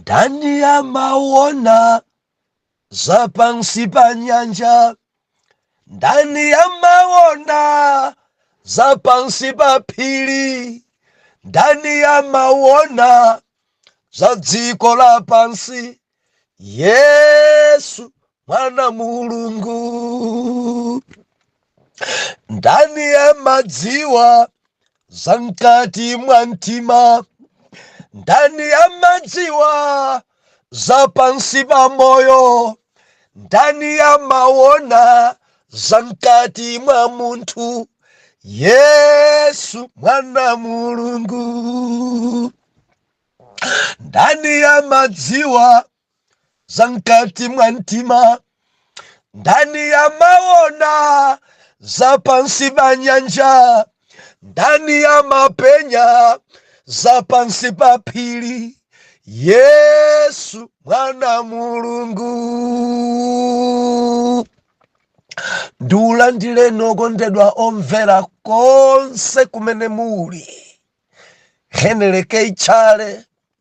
Ndani amaona za pansi pa nyanja? Ndani amaona za pansi pa phiri? Ndani amaona za dziko lapansi? Yesu mwana Mulungu ndani amadziwa za mkati mwa mtima ndani amadziwa za pansi pa moyo ndani amaona za mkati mwa munthu Yesu mwana Mulungu ndani amadziwa za mkati mwa mtima ndani amaona za pansi pa nyanja ndani amapenya za pansi pa phiri yesu mwana mulungu ndiulandireni okondedwa omvera konse kumene muli heneleke itchale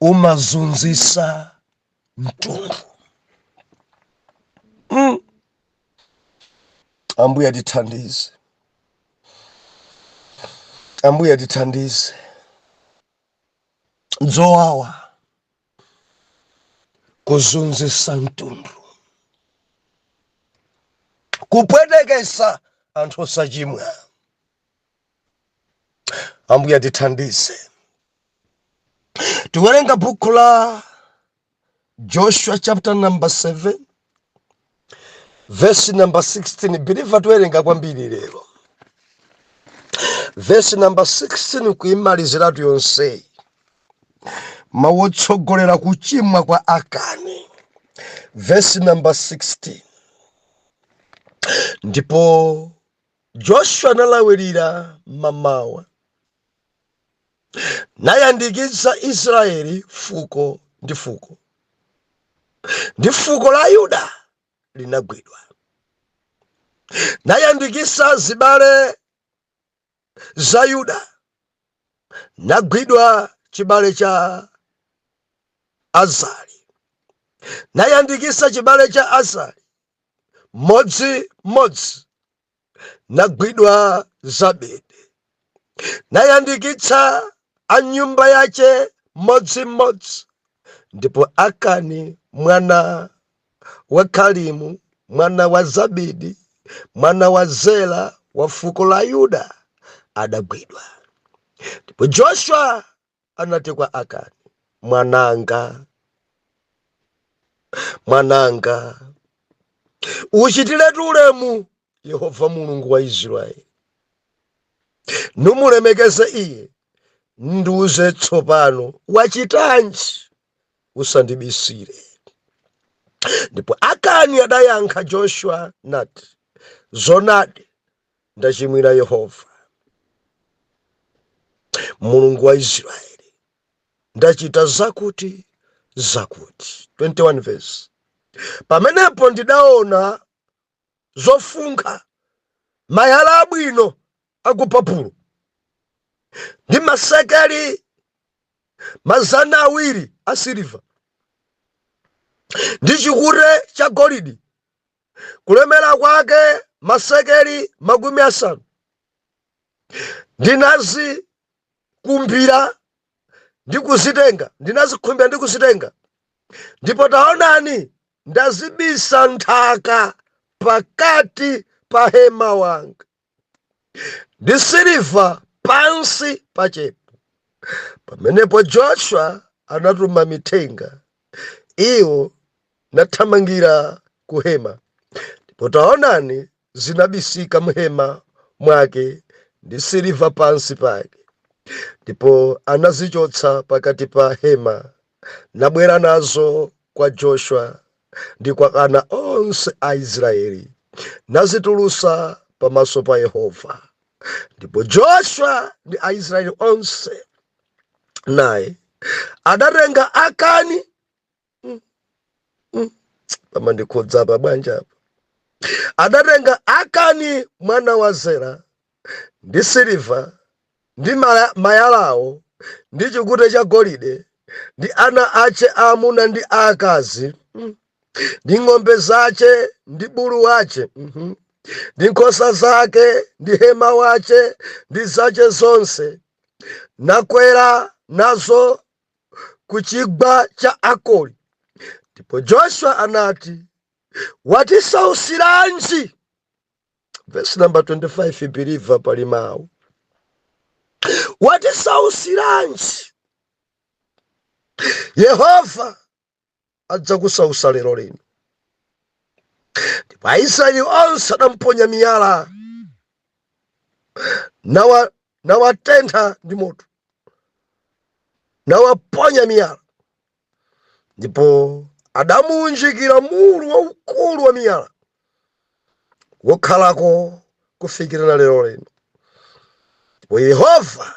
umazunzisa mtundu mm. ambuye atithandize ambuye atithandize nzowawa kuzunzisa mtundu kupwetekesa anthu osachimwa ambuye atithandize tiwerenga buku la joshua chapter number 7 verse number 16 biliva tiwerenga kwambiri lero verse number 16 kuimaliziratu yonseyi mawu otsogolera kuchimwa kwa akani verse number 16 ndipo Joshua nalawirira mamawa, nayandikitsa Israyeli fuko ndi fuko, ndi fuko la Yuda linagwidwa, nayandikitsa zibale za Yuda, nagwidwa chibale cha Azari, nayandikitsa chibale cha Azari, mmodzi mmodzi nagwidwa zabidi nayandikitsa a nyumba yache mmodzi mmodzi ndipo akani mwana wa kalimu mwana wa zabidi mwana wa zela wa fuko la yuda adagwidwa ndipo joshua anati kwa Akani, Mwananga, mwananga, uchitiretu ulemu Yehova Mulungu wa Israeli, numulemekeze iye, ndiuze tsopano wachitanji, usandibisire. Ndipo Akani adayankha Joshua nati, Zonadi ndachimwira Yehova Mulungu wa Israeli, ndachita zakuti zakuti. 21 verse. Pamenepo ndidaona zofunkha mayala abwino a ku Babulo ndi masekeli mazana awiri asiliva ndi chikute cha golidi kulemera kwake masekeli makumi asanu ndinazikumbira ndi kuzitenga ndinazikhumbira ndi kuzitenga ndipo taonani ndazibisa nthaka pakati pa hema wanga ndi siliva pansi pachepo pamenepo joshua anatuma mithenga iwo nathamangira ku hema ndipo taonani zinabisika m'hema mwake ndi siliva pansi pake ndipo anazichotsa pakati pa hema nabwera nazo kwa Joshua ndi kwa ana onse a Israeli nazitulusa pamaso pa Yehova. Ndipo Joshua ndi Aisraeli onse naye adatenga Akani mm, mm, pamandikhudzapa bwanji apa adatenga Akani mwana wa Zera ndi siliva, ndi mayalawo, ndi chikute cha golide, ndi ana ache aamuna ndi aakazi, mm, ndi ng'ombe zache ndi bulu wache, mhm, ndi nkhosa zake ndi hema wache ndi zache zonse, nakwera nazo ku chigwa cha Akori. Ndipo Joshua anati, Watisausiranji? vesi namba 25 believer pali mawu watisausiranji yehova adzakusausa lero lino ndipo aisraeli onse adamponya miyala nawa nawatentha ndi moto nawaponya miyala ndipo adamuunjikira mulu waukulu wa miyala wokhalako kufikira na lero lino ndipo yehova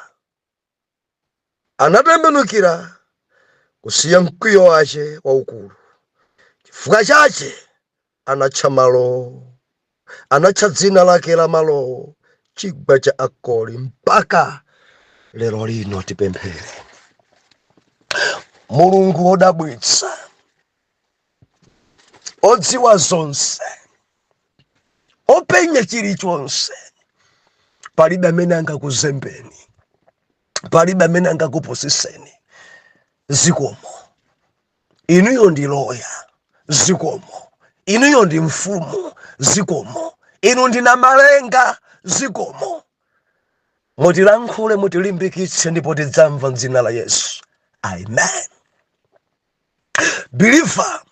anatembenukira kusiya mkwiyo wache waukulu chifukwa chache Anatcha malowo, anatcha dzina lake la malowo chigwa cha Akori mpaka lero lino. Tipemphere. Mulungu wodabwitsa, odziwa zonse, openya chilichonse, palibe amene angakuzembeni, palibe amene angakupusiseni. Zikomo. inuyo ndi loya zikomo inuyo ndi mfumu zikomo inu ndi namalenga zikomo mutilankhule mutilimbikitse ndipo tidzamva mdzina la yesu amen believer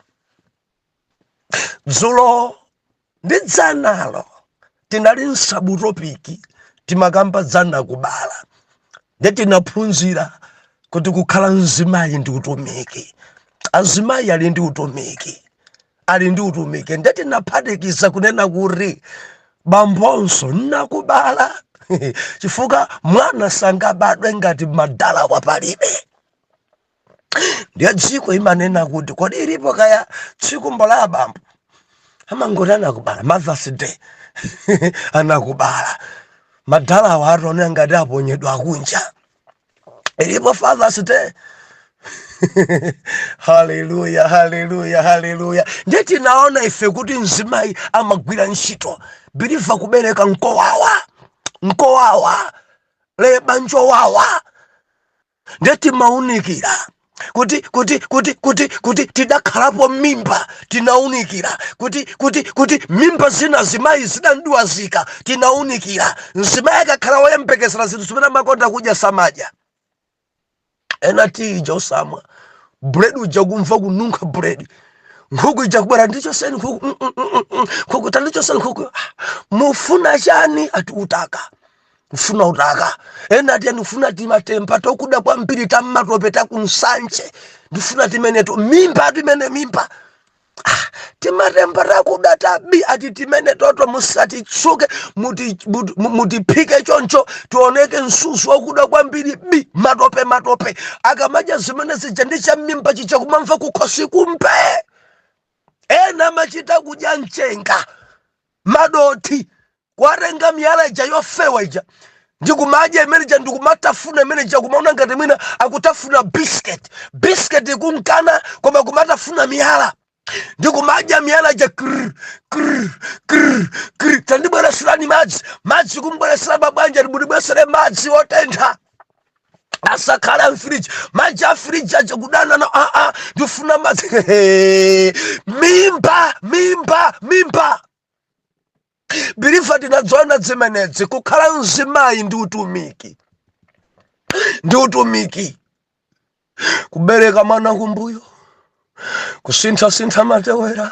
dzulo ndi dzanalo tinali msabutopiki timakamba za nakubala nde tinaphunzira kuti kukhala mzimayi ndi utumiki azimayi ali ndi utumiki ali ndi utumiki nde tinaphatikiza kunena kuti bambonso nakubala chifukwa mwana sangabadwe ngati madalawa palibe ndiye dziko imanena kuti kodi ilipo kaya tsiku la abambo amangoti anakubala mothers day anakubala madalawo atone ngati aponyedwa kunja ilipo fathers day haleluya haleluya haleluya ndiye tinaona ife kuti mzimayi amagwira ntchito believer kubereka nkowawa nkowawa leba njowawa nde timaunikira kuti kuti kuti kuti kuti tidakhalapo mimba tinaunikira kuti kuti kuti mimba zina azimayi zidandiwazika tinaunikira mzimayi akakhala woyembekezera zinthu zimene amakonda kudya samadya ena tiyi uja osamwa buledi uja kumva kununkha buledi nkhuku ija kubwera ndichoseni nkhuku mm, mm, mm, nkhuku tandichoseni nkhuku ah, mufuna chani ati utaka kufuna utaka ena ati ndifuna timatemba tokuda kwambiri tammatope takunsanje ndifuna timeneto mimba timeneti mimba Ah, timatemba takuda tabi ati timeneto to musatitsuke muti- muti- mu- mutiphike choncho tioneke msuzi wakuda kwambiri bi matope matope akamadya zimene zija ndi cha mimba chija kumamva kukhosi kumpe ena amachita kudya mchenga madothi kuwatenga miyala ija yofewa ija ndi kumadya mmene muja ndi kumatafuna mmene muja kumaona ngati mwina akutafuna biscuit biscuit ikumkana koma kumatafuna miyala ndi kumadya miyala ija krr, krr, krr, krr. tandibwereserani madzi madzi kumbweresera pabanja ndibweresere madzi otentha asakhale amfiriji madzi afiriji aja kudana na aa ndifuna madzi mimba mimba mimba believer tinadziona zimenezi kukhala mzimayi ndi utumiki ndi utumiki kubereka mwana kumbuyo kusinthasintha matewera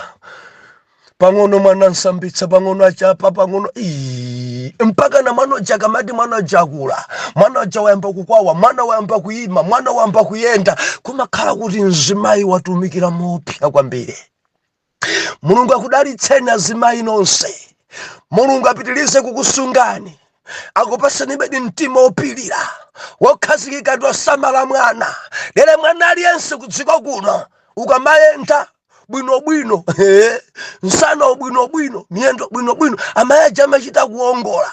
pang'ono mwana amsambitsa pang'ono achapa pang'ono Ii, mpaka na mwana uja akamati mwana uja akula mwana uja wayamba kukwawa mwana wayamba kuyima mwana wayamba kuyenda kumakhala kuti mzimayi watumikira moopsa kwambiri mulungu akudalitseni azimayi nonse mulungu apitirize kukusungani akupasenibe mtima opilira wokhazikika ndi osamala mwana lero mwana aliyense kudziko kuno ukamayenda bwinobwino nsanawu bwinobwino miyendo bwinobwino amayi aja amachita kuongola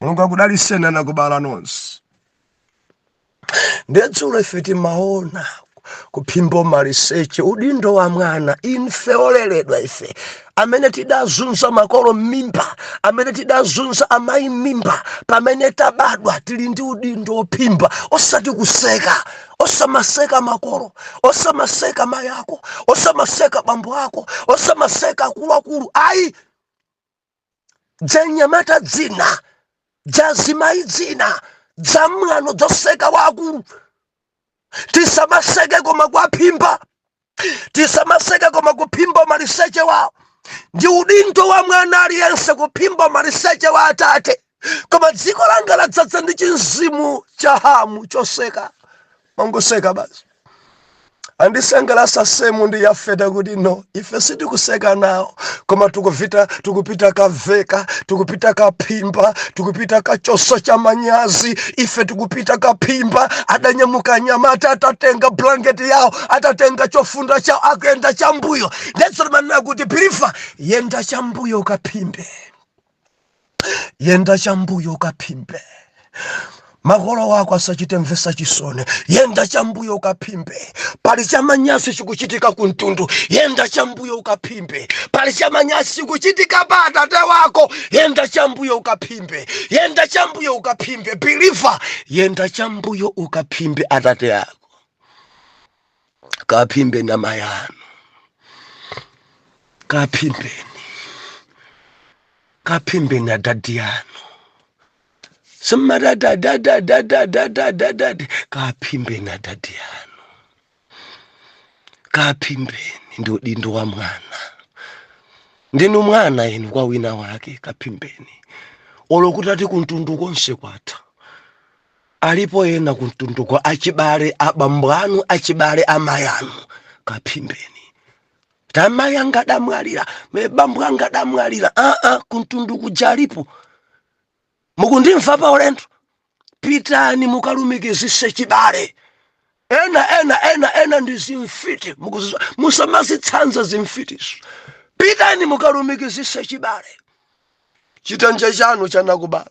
mulungu akudaliseni anakubala nonse nde dzulo ife timaona kuphimba umaliseche udindo wa mwana ife oleredwa ife amene tidazunza makolo m'mimba amene tidazunza amayi m'mimba pamene tabadwa tili ndi udindo wophimba osati kuseka osamaseka makolo osamaseka mayi ako osamaseka bambo ako osamaseka akuluakulu ayi dzanyamata dzina dzazimayi dzina dzamwano dzoseka akuluakulu tisamaseke koma kuwaphimba tisamaseke koma kuphimba umaliseche wawo ndi udindo wa mwana aliyense kuphimba umaliseche wa atate koma dziko langa ladzaza ndi chimzimu cha hamu choseka kumangoseka basi andisangalasa semu ndi yafeti kuti no ife sitikuseka nawo koma tikuvita tikupita kaveka tikupita kaphimba tikupita kachosa chamanyazi ife tikupita kaphimba adanyamuka anyamata atatenga blanketi yawo atatenga chofunda chawo akuyenda chambuyo nde zotimanena kuti believer yenda chambuyo kaphimbe yenda chambuyo ukaphimbe makolo ako asachite mvesa chisoni yenda chambuyo ukaphimbe pali chamanyazi chikuchitika kumtundu yenda chambuyo ukaphimbe pali chamanyazi chikuchitika pa atate ako yenda chambuyo ukaphimbe yenda chambuyo ukaphimbe believer yenda chambuyo ukaphimbe atate ako kaphimbeni amayi anu kaphimbeni kaphimbeni adadi yanu simatadadadadadadadadadadi kaphimbeni adadi yanu kaphimbeni ndi udindo wa mwana ndinu mwana inu kwa wina wake kaphimbeni olo kutati kumtundu konse kwatha Alipo ena kumtunduko achibale abambo anu achibale amayi anu kaphimbeni ati amayi anga adamwalira ine abambo anga adamwalira aa kumtundu kuja alipo mukundimva pa ulendo pitani mukalumikizise chibale ena ena ena ena ndi zimfiti mukudziwa musamazitsanza zimfitizo pitani mukalumikizise chibale chitenje chanu cha nakubala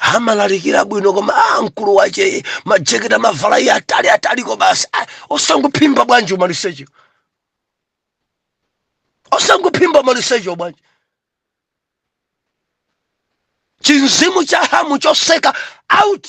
amalalikira bwino koma a mkulu wache majeketi amavala iye atali ataliko basi Ah, osangophimba bwanji umalisechewo osangophimba umalisechewo bwanji chimzimu cha hamu choseka out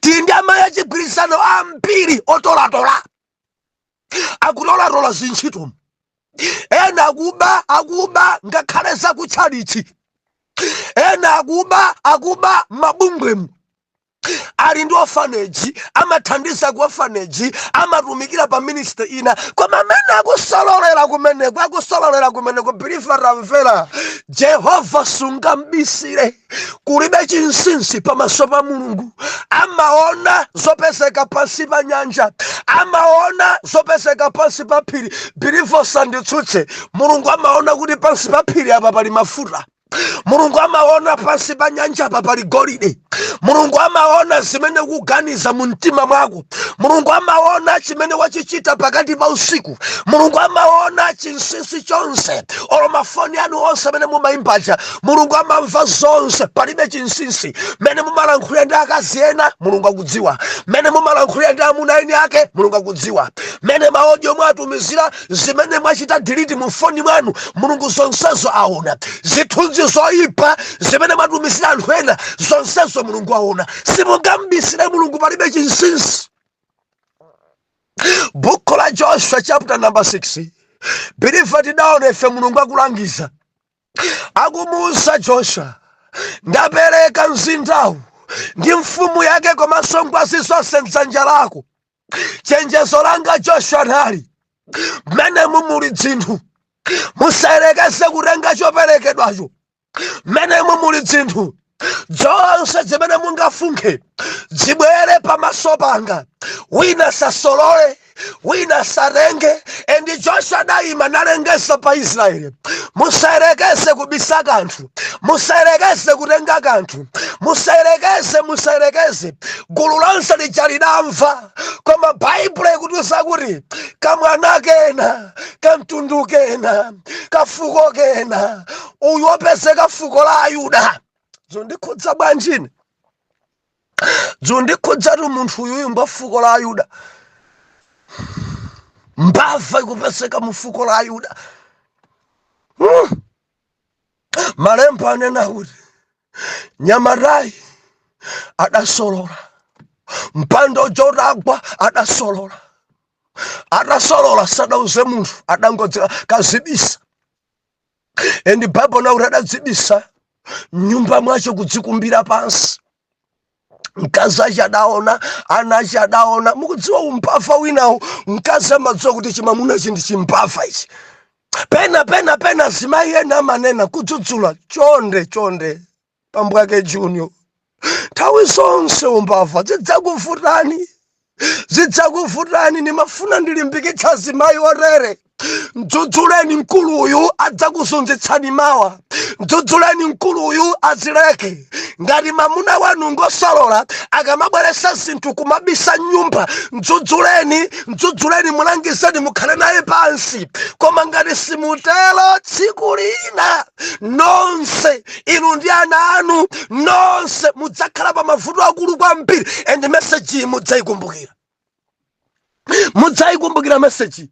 tili ndi amayi achigwirizano ambiri otolatola akutolatola zintchito ena akuba akuba ngakhale zakutchalitchi ena akuba akuba mabungwemu ali ndi orphanage amathandiza ku orphanage amatumikira pa ministry ina koma amene akusololera kumeneko akusololera kumeneko believer tamvera jehova sungambisire kulibe chinsinsi pamaso pa mulungu amaona zopezeka pansi pa nyanja amaona zopezeka pansi pa phiri believer usanditsutse mulungu amaona kuti pansi pa phiri apa pali mafuta mulungu amaona pansi pa nyanja apa pali golide mulungu amaona zimene ukuganiza mu mtima mwako mulungu amaona chimene wachichita pakati pa usiku mulungu amaona chinsinsi chonse olo mafoni anu onse amene mumayimbaja mulungu amamva zonse palibe chinsinsi mmene mumalankhulira ndi akazi ena mulungu akudziwa mmene mumalankhulira ndi amuna eni ake mulungu akudziwa mmene ma audio mwatumizira zimene mwachita delete mu foni mwanu mulungu zonsezo aona zithunzi zoyipa zimene mwatumizira anthu ena zonsezo mulungu aona simungambisire mulungu palibe chinsinsi buku la joshua chapter number 6 believer tidaona ife mulungu akulangiza akumuuza joshua ndapereka mzindawu ndi mfumu yake komanso ngwazi zonse mdzanja lako chenjezo langa joshua nali mmenemu muli dzinthu musayerekeze kutenga choperekedwacho mmenemu muli dzinthu zonse zimene mungafunkhe zibwere pamaso panga wina asasolole wina asatenge endi joshua adaima nalengesa pa israeli musayerekeze kubisa kanthu musayerekeze kutenga kanthu musayerekeze musayerekeze gulu lonse lija lidamva koma baibulo ikutiuza kuti kamwana kena kamtundu kena kafuko kena uyu wopezeka fuko la ayuda zondikhudza bwanji zondikhudzatu munthu uyuyu ngwa fuko la ayuda mbava ikupezeka mu fuko la ayuda malemba anena kuti mnyamatayu adasolola mpando chotakwa adasolola atasolola sadauze munthu adangozikazibisa endi baibo inena kuti adadzibisa mnyumba mwace kudzikumbira pansi mkazi ace adaona ana ace adaona mukudziwa umbava winawo mkazi amadziwa kuti chimamuna ichi ndi chimbava ichi pena pena pena zimayi ena amanena kudzudzula chonde chonde bambo wake junior nthawi zonse umbava zidzakuvutani zidzakuvutani ndimafuna ndilimbikitse azimayi otere mdzudzuleni mkulu uyu adzakuzunzitsani mawa mdzudzuleni mkulu uyu azileke ngati mamuna wanu ngosolola akamabweresa zinthu kumabisa mnyumba mdzudzuleni mdzudzuleni mulangizeni mukhale naye pansi koma ngati simutero tsiku lina nonse inu ndi ana anu nonse mudzakhala pa mavuto akulu kwambiri and message iyi mudzayikumbukira mudzayikumbukira message iyi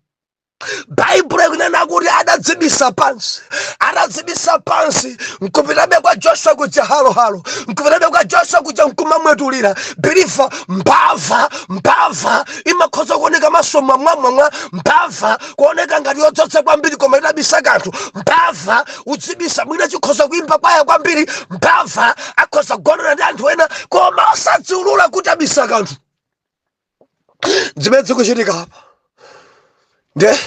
baibulo ikunena kuti adadzibisa pansi adadzibisa pansi nkupitabe kwa joshua kuja halohalo nkupitabe kwa joshua kuja nkumamwetulira biliva mbava mbava imakhoza kuoneka maso mwamwamwamwa mbava kuoneka ngati yodzodza kwambiri koma idabisa kanthu mbava kudzibisa mwina chikhoza kuimba kwaya kwambiri mbava akhoza kugonana ndi anthu ena koma osadziulula kuti abisa kanthu zimene zikuchitika apa nde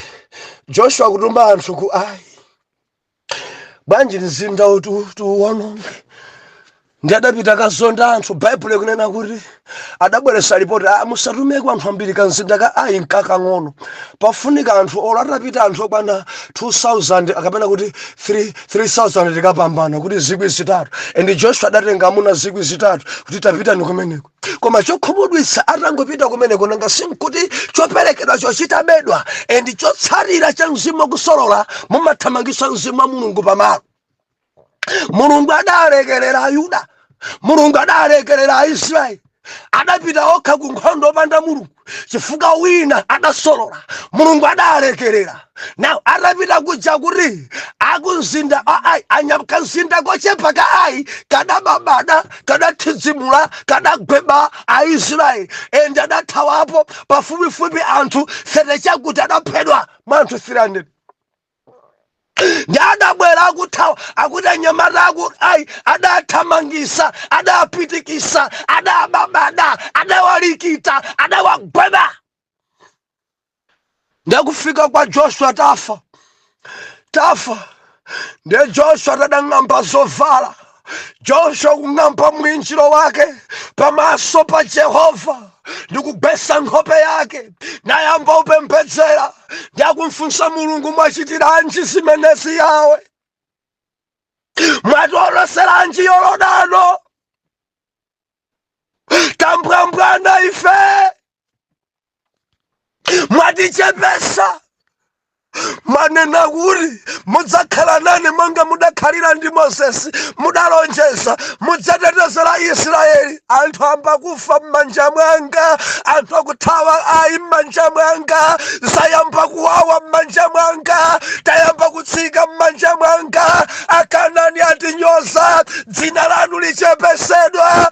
joshua akutuma anthu ku ai bwanji mzinda uwu tiuwononge ndi adapita kukazonda anthu baibulo ikunena kuti adabweresa lipoti a musatumeko anthu ambiri kamzinda ka ayi nkakang'ono pafunika anthu olo atapita anthu okwana 2000 kapena kuti 3 3000 tikapambana kuti zikwi zitatu and joshua adatenga amuna zikwi zitatu kuti tapitani kumeneko koma chokhumudwitsa atangopita kumeneko nanga sinkuti choperekedwa chochitabedwa and chotsatira cha mzimu wakusolola mumathamangitsa mzimu wa mulungu pamalo mulungu adalekerera ayuda mulungu adalekerera aisraeli adapita okha ku nkhondo opanda mulungu chifukwa wina adasolola mulungu adalekerera naw adapita kuja kuti akumzinda ai anyakamzinda kochepa ka ai kadababada kadathidzimula kadagweba aisraeli ende adathawapo pafupifupi anthu sete chakuti adaphedwa mwa anthu 300 ndi adabwera akuthawa akuti anyamata aku ayi adathamangisa adapitikisa adababada adawalikita adawagweba ndakufika kwa joshua tafa tafa ndiye joshua tadang'amba zovala joshua kung'amba mwinjiro wake pamaso pa jehova ndikugwesa nkhope yake nayamba kupembedzera ndi akumfunsa mulungu mwachitiranji zimenezi yawe mwatiolotseranji yorodano tambwambwana ife mwatichepesa manena kuti mudzakhala nane monga mudakhalira ndi mosesi mudalonjeza mudzatetezera israeli anthu amba kufa m'manja mwanga anthu akuthawa ayi m'manja mwanga zayamba kuwawa m'manja mwanga tayamba kutsika m'manja mwanga akanani atinyoza dzina lanu lichepesedwa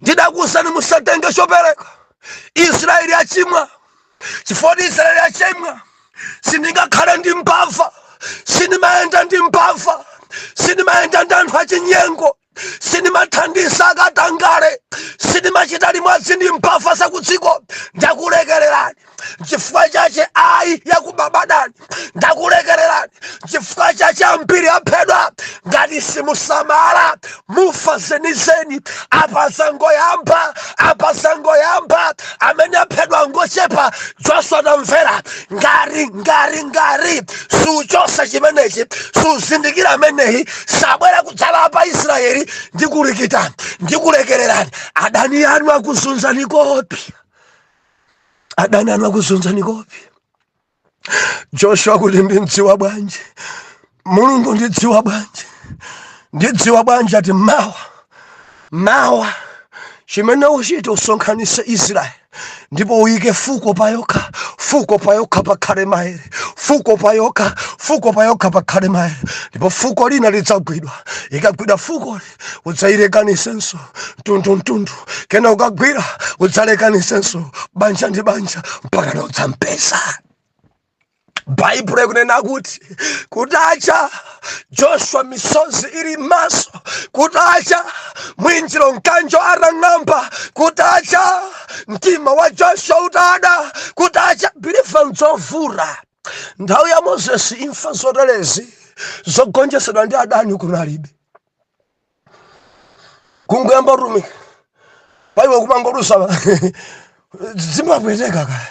ndidakuuzani musatenge chopereka israeli achimwa chifukwa choti israeli achimwa sindingakhale ndi mbava sindimayenda ndi mbava sindimayenda ndi anthu achinyengo sindimathandiza akatangale sindimachita limodzi ndi mbava zakudziko ndakulekererani chifukwa chache ayi yakubabadani ndakulekererani chifukwa chache ambiri aphedwa ngati simusamala mufa zenizeni apa zangoyamba apa zangoyamba amene aphedwa ngochepa joshua tamvera ngati ngati ngati suchosa chimenechi suzindikira ameneyi sabwera kudzala pa israeli ndikulikitani ndikulekererani adani anu akuzunzani kopi adani anu akuzunzani kopi joshua kuti ndimdziwa bwanji mulungu ndidziwa bwanji ndidziwa bwanji ati mawa mawa chimene uchite usonkhanise israeli ndipo uyike fuko payokha fuko payokha pakhale maere fuko payokha fuko payokha pakhale maere ndipo fuko lina lidzagwidwa ikagwidwa fukoli udzailekanisenso mtundu mtundu kena ukagwira udzalekanisenso banja ndi banja mpaka na udzampeza baibulo ikunena kuti kutacha joshua misozi ili mmaso kutacha mwinjiro mkanjo atang'amba kutacha mtima wa joshua utada kutacha biliva ndzovuta nthawi ya mozesi imfa zotelezi zogonjesedwa ndi adani kunalibe kungoyamba utumiki paiwe kumangoluza zimapweteka kaya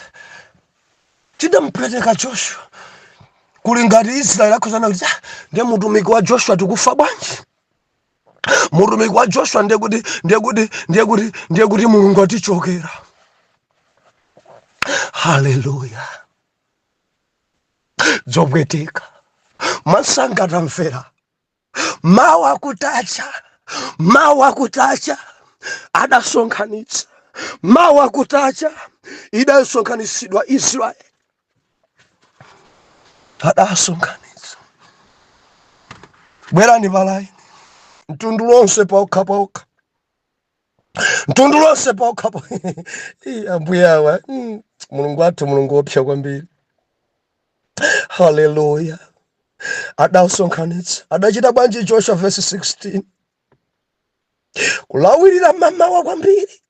tidamupweteka joshua kuli ngati israeli akhozana kuti "Ah, ndiye mutumiki wa joshua tikufa bwanji mutumiki wa joshua ndiye kuti ndiye kuti ndiye kuti ndiye kuti mulungu atichokera haleluya zopweteka masanga tamvera mawa kutacha mawa kutacha adasonkhanitsa mawa kutacha idasonkhanitsidwa israeli adasonkhanitsa bwerani palaini mtundu lonse paokha paokha mtundu lonse paokhapo Ii, ambuye awa mm, mulungu wathu mulungu wopsa kwambiri haleluya adasonkhanitsa adachita bwanji joshua vesi 16 kulawirira mamawa kwambiri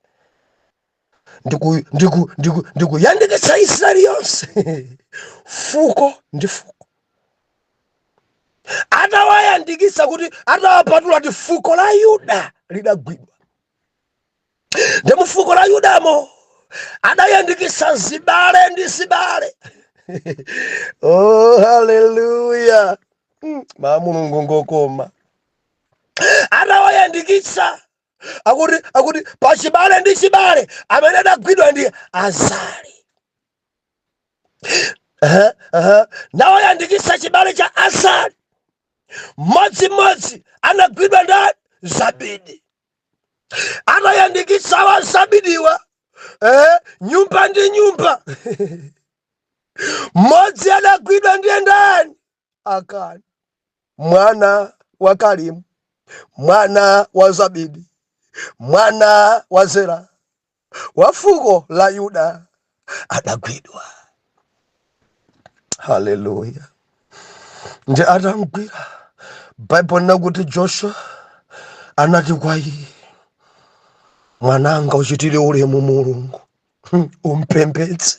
ndiku- ndiku- ndiku- ndikuyandikitsa israeli yonse fuko ndi fuko atawayandikitsa kuti atawapatula kuti fuko la yuda lidagwidwa ndi mufuko la yudamo adayandikitsa zibale ndi zibale oh haleluya Mm, ma mulungu ngokoma atawayandikitsa akuti akuti pachibale ndi chibale amene adagwidwa ndi azali Aha, aha. nawayandikisa chibale cha azali mmodzimmodzi anagwidwa ndani zabidi anayandikisa wa zabidiwa eh, nyumba ndi nyumba mmodzi adagwidwa ndiye ndani Akani mwana wa Kalimu mwana wa Zabidi mwana wa Zera wa fuko la Yuda adagwidwa. Haleluya! Nde atamgwira, Baibulo linakuti Joshua anati kwa iye, mwananga, uchitire ulemu Mulungu, hmm, umpembedze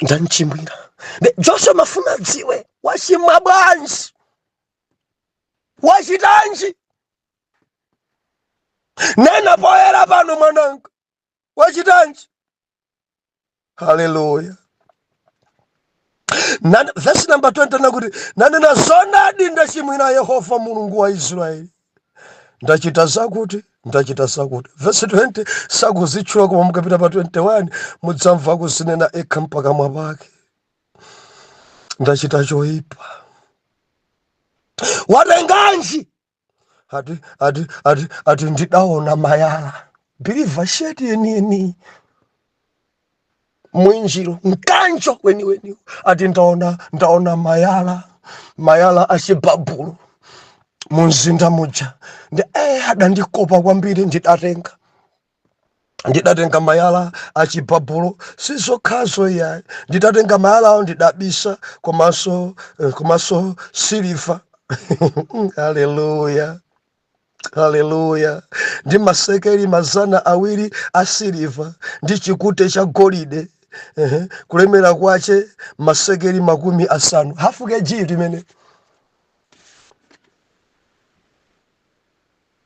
ndamchimwira Nde joshua amafuna adziwe wachimwa bwanji wachitanji nena poyera pano mwananga wachitanji haleluya Nan- vesi namba 20 nakuti nanena zonadi ndachimwira yehova mulungu wa israeli ndachita zakuti ndachita zakuti vesi 20 sakuzitchula koma mukapita pa 21 mudzamva kuzinena ekha m'pakamwa pake ndachita choipa watenganji ati ati ati ati ndidaona mayala biliva sheti yeniyeni mwinjiro mkanjo weniweni ati ndaona ndaona mayala mayala achibabulo mumzinda muja ndi eh, adandikopa kwambiri ndidatenga ndidatenga mayala achibabulo sizokhazo iyayi ndidatenga mayalawo ndidabisa komanso eh, komanso siliva haleluya haleluya ndi masekeli mazana awiri a siliva ndi chikute cha golide Ehe, kulemera kwache masekeli makumi asanu hafu kg limene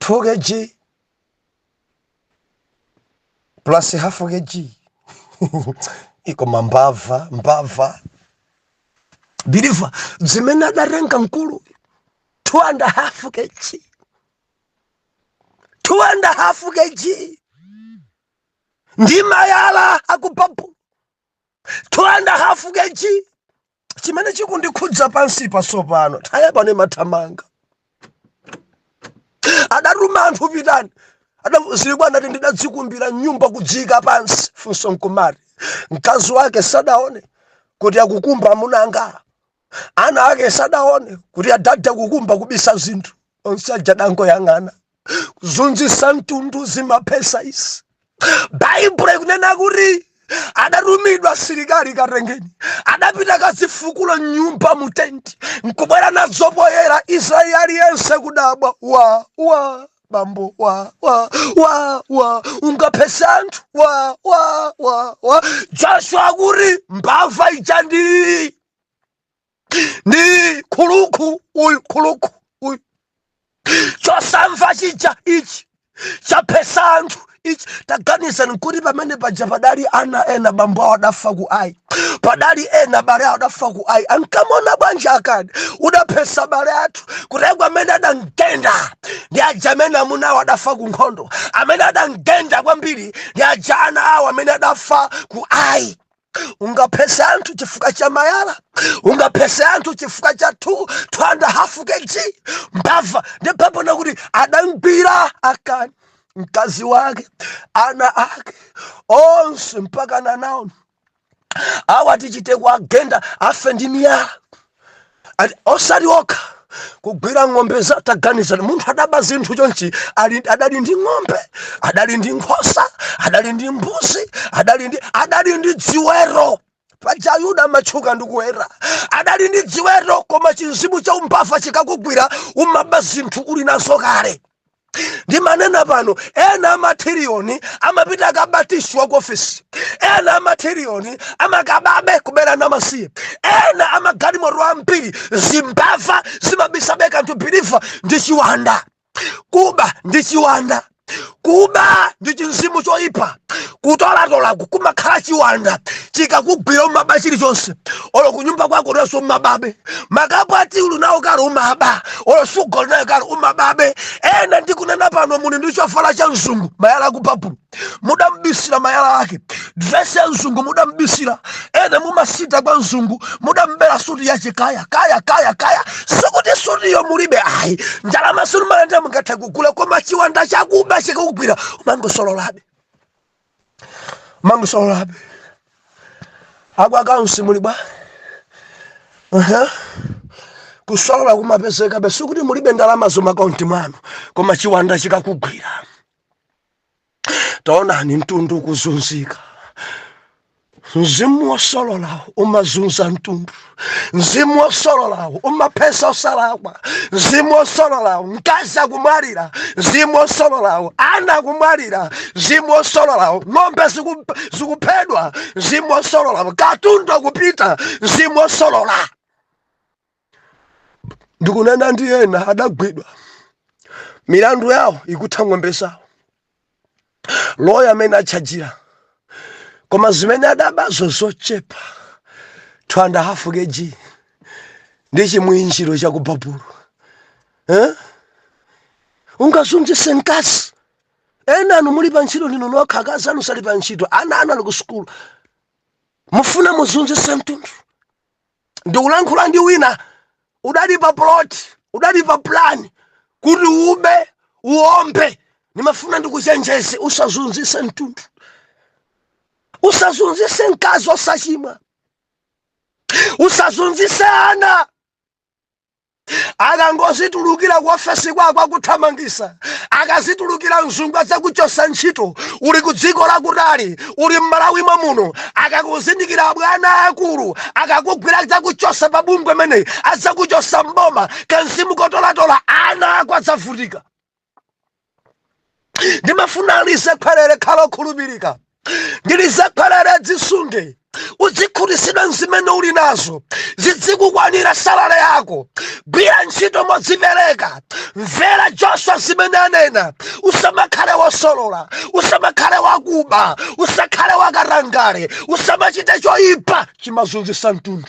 2 kg plus half kg ikoma mbava mbava biliva zimene adatenga mkulu two and a half kg two and a half kg ndi mayala akubabu two and a half kg chimene chikundikhudza pansipa tsopano nthawi yapano imathamanga adatuma anthu pitani ada zili kwa anati ndidadzikumbira m'nyumba kudziika pansi funso nkumati mkazi wake sadaone kuti akukumba mu nanga ana ake sadaone kuti adada akukumba kubisa zinthu onse aja dangoyang'ana kuzunzisa mtundu zimaphesa izi baibulo ikunena kuti adatumidwa asilikali katengeni adapita kazifukula m'nyumba mutenti nkubwera nazo poyera israeli aliyense kudabwa wa wa bambo wa wa wa wa ungaphese anthu wa wa wa wa joshua akuti mbava ija ndii ndi khuluku uyu khuluku uyu chosamva chija ichi chaphesa anthu ichi taganizani kuti pamene paja padali ana ena bambo awo adafa ku ayi padali ena abale awo adafa ku ayi ankamuona bwanji akani udaphesa abale athu kutheka amene adamgenda ndi aja amene amuna awo adafa ku nkhondo amene adamgenda kwambiri ndi aja ana awo amene adafa ku ayi ungaphese anthu chifukwa cha mayala ungaphese anthu chifukwa cha 2.5 kg mbava ndi pepona kuti adamgwira akani mkazi wake ana ake onse mpaka nanawo awa tichite kuagenda afe ndi miyala ati osati okha kugwira ng'ombe za taganizani munthu adaba zinthu chonchi ali adali ndi ng'ombe adali ndi nkhosa adali ndi mbuzi adali ndi adali ndi dziweto paja ayuda amatchuka ndi kuweta adali ndi dziweto koma chimzimu cha umbava chikakugwira umaba zinthu uli nazo kale ndimanena pano ena amathiriyoni amapita akaba tishu wa ku ofisi ena amathiriyoni amakababe kubera ana amasiye ena amagalimoto ambiri zimbava zimabisabe kanthu biliva ndi chiwanda kuba ndi chiwanda kuba ndi chimzimu choyipa kutolatola kumakhala chiwanda chikakugwira umaba chilichonse olo kunyumba kwako uli nazo umababe makapu a tiyi uli nawo kale umaba olo suga uli nayo kale umababe ena ndikunena pano muli ndi chovala cha mzungu mayala akupapulo mudambisira mayala ake dresi ya mzungu mudambisira ena mumasita kwa mzungu mudambera suti yace kaya kaya kaya kaya sikuti sutiyo mulibe ayi ndalama si mumalandira mungatha kugula koma chiwanda chakuba chikakugwira umangosololabe mangosololabe a ku akaunsi muli bwa Aha. kusolola kumapezekabe sikuti mulibe ndalamazo m'maakaunti mwanu koma chiwanda chikakugwira taonani mtundu kuzunzika mzimu wosololawo umazunza mtundu mzimu wosololawo umaphesa osalakwa mzimu wosololawo mkazi akumwalira mzimu wosololawo ana akumwalira mzimu wosololawo ng'ombe ziku- zikuphedwa mzimu wosololawo katundu akupita mzimu wosolola ndikunena ndi ena adagwidwa milandu yawo ikutha ng'ombe zawo loya amene atchajira koma zimene adabazo zochepa 2 and a half kg ndi chimwinjiro cha ku babulo eh? ungazunzise mkazi ena anu muli pa ntchito ndinu nokha akazi anu sali pa ntchito ana anu ali ku sukulu mufuna muzunzise mtundu ndikulankhula ndi wina udali pa plot udali pa plan kuti ube uombe ndimafuna ndikuchenjeze usazunzise mtundu usazunzise mkazi osachimwa usazunzise ana akangozitulukira ku ofesi kwako akuthamangisa akazitulukira mzungu adzakuchosa ntchito uli ku dziko lakutali uli mmalawi momuno akakuzindikira abwana akulu akakugwira adzakuchosa pa bungwe meneyi adzakuchosa mboma kamzimu kotolatola ana ako adzavutika ndimafuna alizakhwerere khala okhulupirika ndilizakhwerere dzisunge uzikhutitsidwa nzimene uli nazo zidzikukwanira salale yako gwira ntchito modzipereka mvera joswa zimene anena usamakhale wosolola usamakhale wakuba usakhale wakatangale usamachite choyipa chimazunzisa mtundu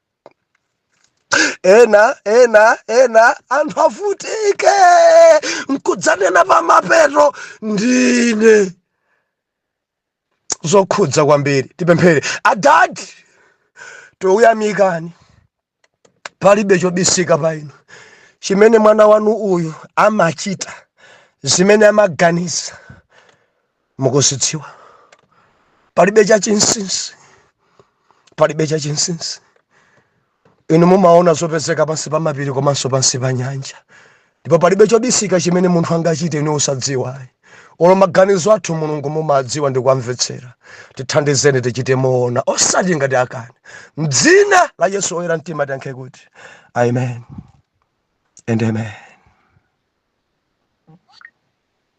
ena ena ena anthu avutike nkudzanena pamapeto ndine zokhudza kwambiri tipemphere adadi tikuyamikani palibe chobisika pa inu chimene mwana wanu uyu amachita zimene amaganiza mukuzidziwa palibe chachinsinsi palibe chachinsinsi inu mumaona zopezeka pansi pa mapiri komanso pansi pa nyanja ndipo palibe chobisika chimene munthu angachite inu osadziwa olo maganizo athu mulungu mumadziwa ndi kuwamvetsera tithandizeni tichite moona osati ngati akani mdzina la yesu oyera mtima tiyankhe kuti amen and amen